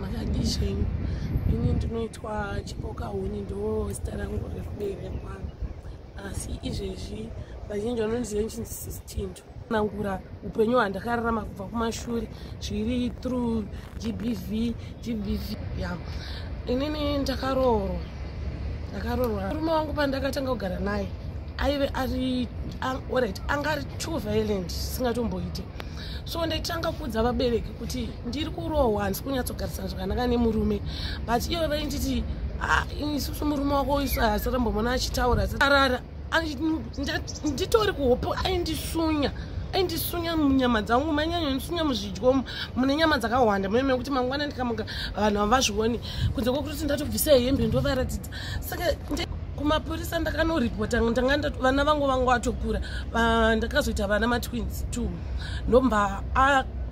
makadii zvenyu ini ndinoitwa chipoka huni ndo zita rangu rekuberekwa asi izvezvi vazhinji vanondiziva nchinzitinto nangura upenyu hwandakararama kubva kumashure zviri through gbv gbv ya inini ndakaroorwa ndakaroorwa murume wangu pandakatanga kugara naye aive ari orit anga ari too violent singatomboite so ndaitanga kuudza vabereki kuti ndiri kurohwa handisi kunyatsogarisana zvakanaka nemurume but iwe vainditi ah, isusu murume wako isu hasarambomona achitaura arara nditori kuhopo aindisunya aindisunya munyama dzangu manyanya ndisunya muzvidyo mune nyama dzakawanda mune mekuti mangwana ndikamuka vanhu havazvioni kunze kwekutoti ndatobvisa hembe ndovaratidza saka kumapurisa ndakanoripota ndanga vana vangu vangu vatokura ndakazoita vana matwins t ndomba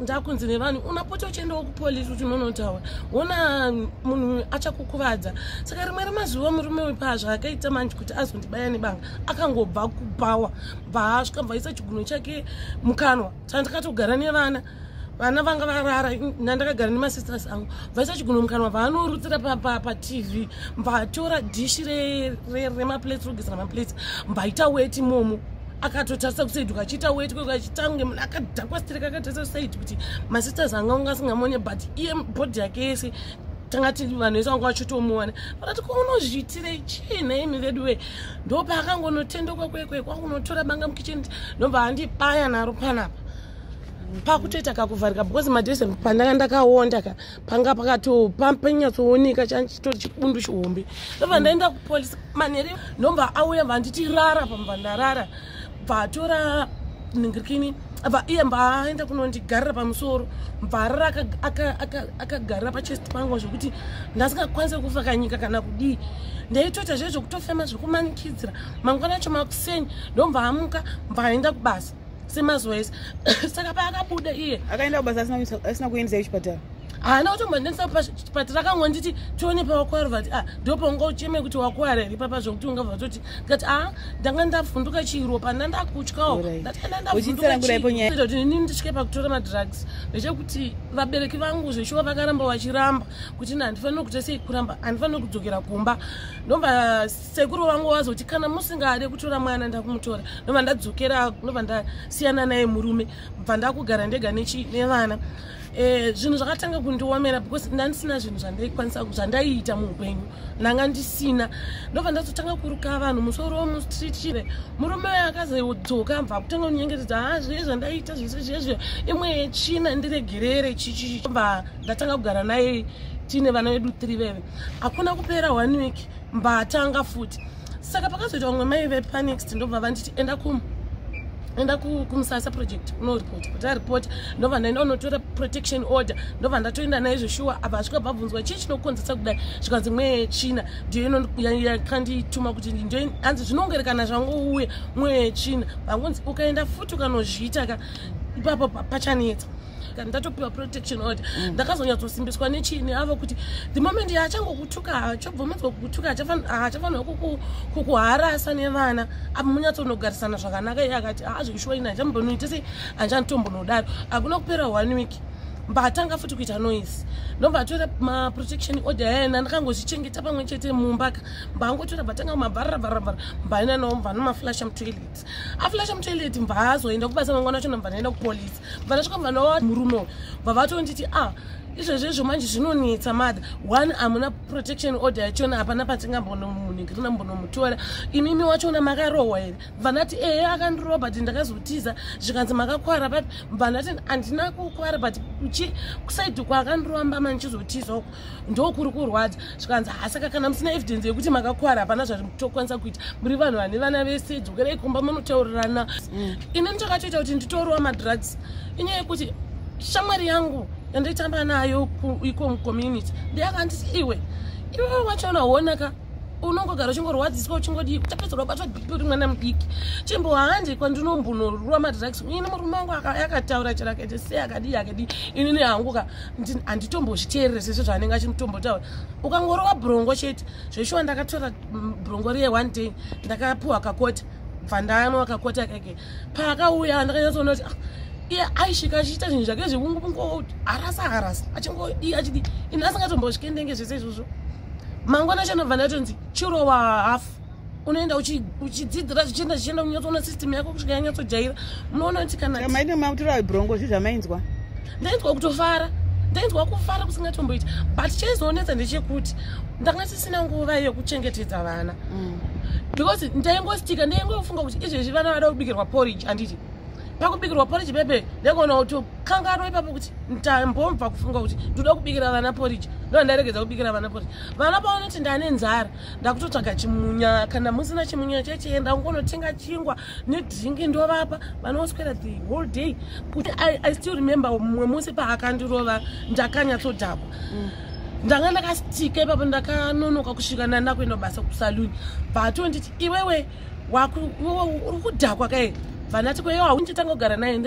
ndakunzi nevanhu unapota uchiendawo kupolisi kuti unonotaura wona munhu achakukuvadza saka rimwe remazuva murume uyu paazvaakaita manje kuti azondibaya nebanga akangobva kubhawa bva asvika bvaisa chiguno chake mukanwa saka ndakatogara nevana vana vanga varara nandakagara nemasisters angu vaisachigunomukanwa vaanorutsira patv mbatora dhishi remaplates rogezera maplates mbaita weti momo akatotarisa kusaidi ukachiita weti kwekwachita kunge munhu akadhakwa strek akatarisa kusaidi kuti masisters anga unga asingamonye but iye bhodhi yake yese tanga ti vanhu vese vanga vachitomuona vakati ko unozviitire chii naimi vedu wee ndopa akangonotendoka kwekwe kwakunotora banga mukicheni ndobva andibaya naro panapa pakutoita kakuvharika because madhese pandanga ndakaonda ka panga pakato panyatsooneka chaitori chibundu chihombe ndobva ndaenda kupolice manhere ndomba auya vanditi rara pamba ndarara bvatora ningirikini bva iye mbaaenda kunondigarira pamusoro mbvarara akagarira pachest pangu zvekuti ndasingakwanise kufa kanyika kana kudii ndaitoita zve zvekutofema zvekumanikidzira mangwana acho makuseni ndomvaamuka mbaaenda kubasa semazuva ese saka paakabuda iye akaenda kubasa asina kuendesa kuchipatara haana kutomboendesa pachipatara akangonditi tione pawakwara vati a ah, ndo paunga ucheme kuti wakwara here papa zvokuti unga vatoti ngati a ah, ndanga ndavhunduka chiro pana ndakutyawo ndatikandandavhundukaini nditye pakutora madrugs ndechekuti vabereki vangu zveshuwa vakaramba vachiramba kuti na handifanire kuita sei kuramba handifanire kudzokera kumba ndomba sekuru vangu vazoti kana musingade kutora mwana ndakumutora ndobva ndadzokera ndobva ndasiyana naye murume bva ndakugara ndega nevana eh, zvinhu zvakatanga kundiomera because ndandisina zvinhu zvandaikwanisa zvandaiita muupenyu ndanga ndisina ndobva ndazotanga kuruka vanhu musoro womustreet chire murume waye akazodzoka bva kutanga kunyengetedza ha ah, zviye zvandaiita zvese zviye zviye imwe yechina ndiregerere chichichi bva ndatanga kugara naye tiine vana vedu three veve hakuna kupera one week mbatanga futi saka pakazoita vamwe mai vepanext ndobva vanditi enda kum enda kumusasa project unoripota kuti aripota ndobva ndaenda unotora protection order ndobva ndatoenda naye zveshuwa apa asvika bvabvunzwa chii chinokonzesa kudai zvikanzi mweya yechina ndiyo inokandituma kuti ndo anzi zvinongerekana zvangouya mweya yechina vangonzi ukaenda futi ukanozviita ka ipapo pachanetsa kana ndatopiwa protection order mm. ndakazonyatsosimbiswa nechini avo kuti the moment yaachangokutuka haachobvomedzwa kukutuka haachafanira kukuharasa nevana apo munyatsonogarisana zvakanaka iye akati haazvishuwa ini handichambonoita sei handichanitombonodaro hakuna kupera one week mbatanga futi kuita noise ndobva atora maprotection order ayana ndakangozvichengeta pamwe chete mumba ka mbaangotora bvatanga kumabharara bharabhara mbaina nao mbanomaflasha mutoilet aflasha mutoilet mbaazoenda kubasa mangwana acho nambanaenda kupolice Vanasvika vanowa murume uyu vavatonditi ah izvezvo izvo manje zvinonetsa mother one hamuna protection order yachona hapana patingambonomunhikirina mbonomutora imimi wachona makarohwa here vanati ehe akandirowa but ndakazotiza zvikanzi makakwara but vanati handina kukwara but chi kusaidi kwaakandirowa mbama ndichizotiza uku ndokuri kurwadza zvikanzi hasaka kana musina evidence yekuti makakwara hapana zvati mutokwanisa kuita muri vanhu vane vana vese dzokerai kumba munotaurirana mm. ini nditokatoita kuti nditorowa madrugs inyaya yekuti shamwari yangu yandaitamba nayo iko mucommunity ndeyakanditi iwe iwe wachona honaka unongogara uchingorwadziswa uchingodii tapedzera kubatwa bhipi uri mwana mudiki chimbo handi kwandinombunorwa madrugs ini murume wangu yakataura chero akaita sei akadii akadii inini hanguka handitombozviteerere sese zvaanenge achimutombotaura ukangorova brongo chete zveshuwa ndakatora mm, brongo riye one day ndakapuwa kakota bvandanwa kakota kake paakauya ndakanyatsoona kuti ah, iye aisvika achiita zvinhu zvake zvekungokungo harasa harasa achingodi achidi ini asingatombozvikendenge zvese izvozvo mangwana chanobva ndatonzi chirowa hafu unoenda uchidzidzira zvichienda zvichienda unyatsoona system yako kusvika yanyatsojaira munoona kuti kanamaine mautiro abrongo zvi zvamainzwa ndainzwa kutofara ndainzwa kufara kusingatomboita but chaizonetsa ndechekuti ndanga tisina nguva yekuchengetedza vana mm. because ndaingostika ndaingofunga kuti izvezvi vana vada kubikirwa porridge anditi pakubikirwa porridge bebe ndaigona kutokanganwa ipapo kuti ndambomva kufunga kuti ndoda kubikira vana porridge ndoa ndaregedza kubikira vana porridge vana paonoti ndane nzara ndakutotsvaga chimunya kana musina chimunya chechienda ungonotenga chingwa nedringi ndovapa vanoswera the whole day kuti I, i still remember mumwe musi paakandirova ndakanyatsodhakwa mm. ndanga ndakastika ipapo ndakanonoka kusvika nanda kuenda basa kusaluni vatonditi iwewe uri kudhakwa kae vanati kweyo haunitanga kugara naye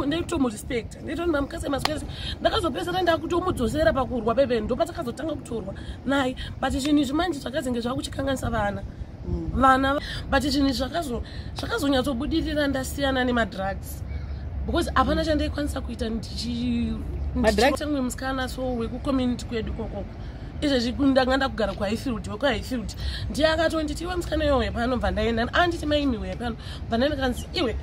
ndaitomurespect nditoni mamukadzi emaswezi ndakazopesera ndakutomudzosera pakurwa bebe ndopatakazotanga kutorwa naye but zvinhu izvi manje zvakazenge zvakuchikanganisa vana mm. vana but zvinhu izvi zvakazonyatsobudirira ndasiyana nemadrugs because hapana chandaikwanisa kuita ndichiamwe musikana so wekucommunity kwedu kokoko izvezvi ndanga ndakugara kuhighfield wekuhighfield ndiye akatonditi iwe musikana iyoyo pano bva ndaenda anditi maimiwe pano vana ndikanzi iwe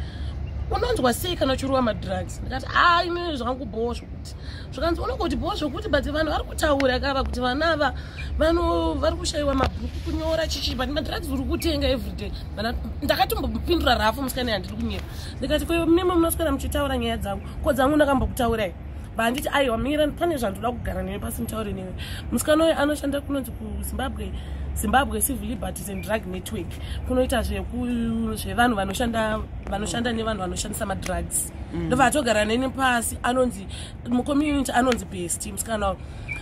unonzwa sei kana uchirova madrugs ndikati haa imi zvangu bhowa zvokuti zvikanzi unongoti bhowa zvokuti but vanhu vari kutaura kava kuti vana ava vano vari kushayiwa mabhuku kunyora chichii but madrugs uri kutenga everyday vana ndakatombopindura rafu musikana yandiri kunyera ndikati ko mimi munosikana muchitaura nyaya dzangu ko dzangu ndakambokutaurai banditi aiwa mira pane zvandoda kugara newe pasi mutaure newe musikana uyo anoshanda kunonzi kuzimbabwe zimbabwe civil liberties and drug network kunoita zvevanhu vanoshanda vanoshanda nevanhu vanoshandisa madrugs mm. ndo vaatogara neni pasi anonzi mucommunity anonzi best musikana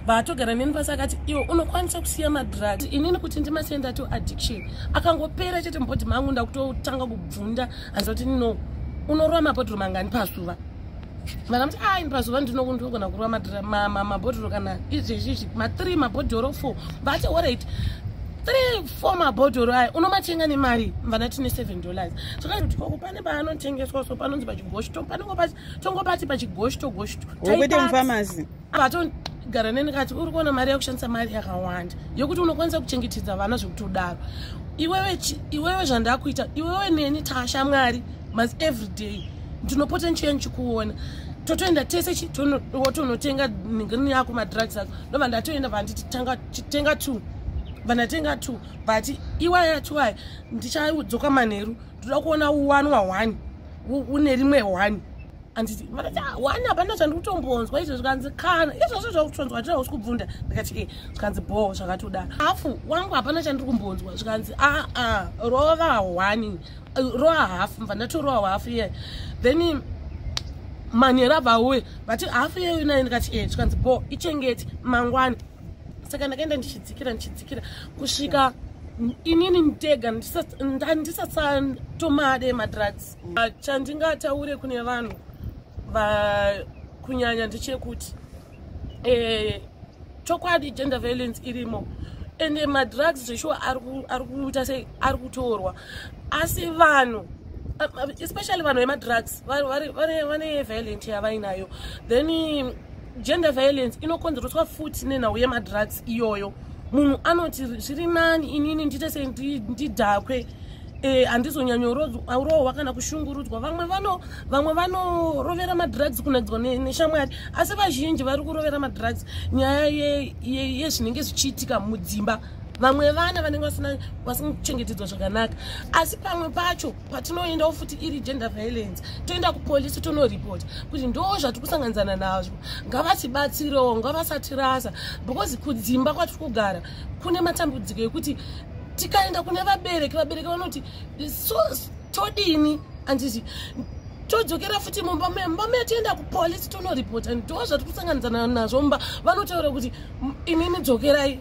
vaatogara neni pasi akati iwe unokwanisa kusiya madrugs inini kuti ndimasenda to addiction akangopera chete mubodhi mangu ndakutotanga kubvunda hanzi kuti no unorova mapodhiro mangani pasuva vakamuti a ah, ini pazuva ndinogona kurwa mabhodhoro kana izvezvizvi mathree mabhodhoro four vati orit three four mabhodhoro aya unomatenga nemari mvana tine seven dollars zvakaitikoko pane paanotengeswa so panonzi pachigoshto panongo pati pachigoshtogoshtowete mufamasi avatogara neni kati uri kuona mari yakushandisa mari yakawanda yokuti unokwanisa kuchengetedza vana zvekutodaro iwewe iwewe zvandakuita iwewe neni tashamwari mas every day ndinopota ndichiya ndichikuona totoenda tese tonotenga ningini yako madrugs ako ndobva ndatoenda vanditi tenga two vanatenga two but iwaya two aya ndichadzoka manheru ndoda kuona one wa one une rimwe one anditi vakati ah, wani hapana zvandiri kutombonzwa izvo zvikanzi kana izvozvo zvakutonzwa tira usi kubvunda ndikati e zvikanzi bhoo zvakatoda hafu wangu hapana chandiri kumbonzwa zvikanzi aa ah, ah, rova hwani roa hafu mva ndatoroa hwafu iye then manhero abvauye vati hafu iyeyo naye ndikati e zvikanzi bhoo ichengeti mangwani saka ndakaenda ndichidzikira ndichidzikira kusvika inini ndega ndandisasatomade madrugs Ah, chandingataure kune vanhu kunyanya ndechekuti eh, chokwadi gender violence irimo ende madrugs zveshuwa ari kuita sei ari kutorwa asi vanhu especially vanhu vemadrugs vane violent yavainayo then gender violence inokonzereswa futi nenhau yemadrugs iyoyo munhu anoti zviri nani inini ndiite se ndidhakwe eh, handizonyanyorohwa kana kushungurudzwa vamwe vano vamwe vanorovera madrugs kunadzwa neshamwari asi vazhinji vari kurovera madrugs nyaya yezvinenge zvichiitika mudzimba vamwe vana vanenge vasina vasingachengetedzwa zvakanaka asi pamwe pacho patinoendawo futi iri gender violence toenda kupolisi tonoripota kuti ndo zvatiri kusanganidzana nazvo ngavatibatsirewo ngavasatirasa because kudzimba kwatiri kugara kune matambudziko ekuti tikaenda kune vabereki vabereki vanoti so todini anditi todzokera futi mumba me mumba me tienda kupolisi tonoripota ndo zvatiri kusanganidzana nazvo mumba vanotaura kuti imimi dzokerai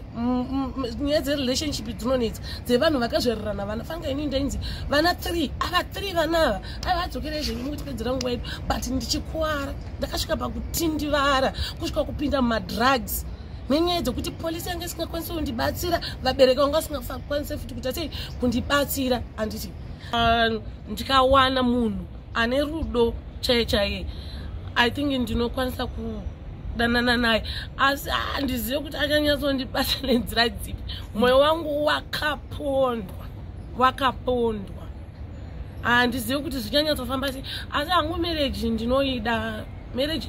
nyaya dzerelationship dzinonetsa dzevanhu vakazvarirana vana fanga ini ndainzi vana three ava three vana ava aiva adzokere zvenyu mukutipedzera nguva yedu but ndichikuvara ndakasvika pakutindivara kusvika kupinda mumadrugs nenyaya dzekuti polisi yange isingakwanisi kundibatsira vabereki vanga vasingakwanise futi kuita sei kundibatsira anditi ah, ndikawana munhu ane rudo chaiye chaiye i think ndinokwanisa kudanana naye asi handizive kuti achanyatsondibata nenzira dzipi mwoyo wangu wakapondwa wakapondwa handizive kuti zvichanyatsofamba sei asi hangu mereji ndinoida mereji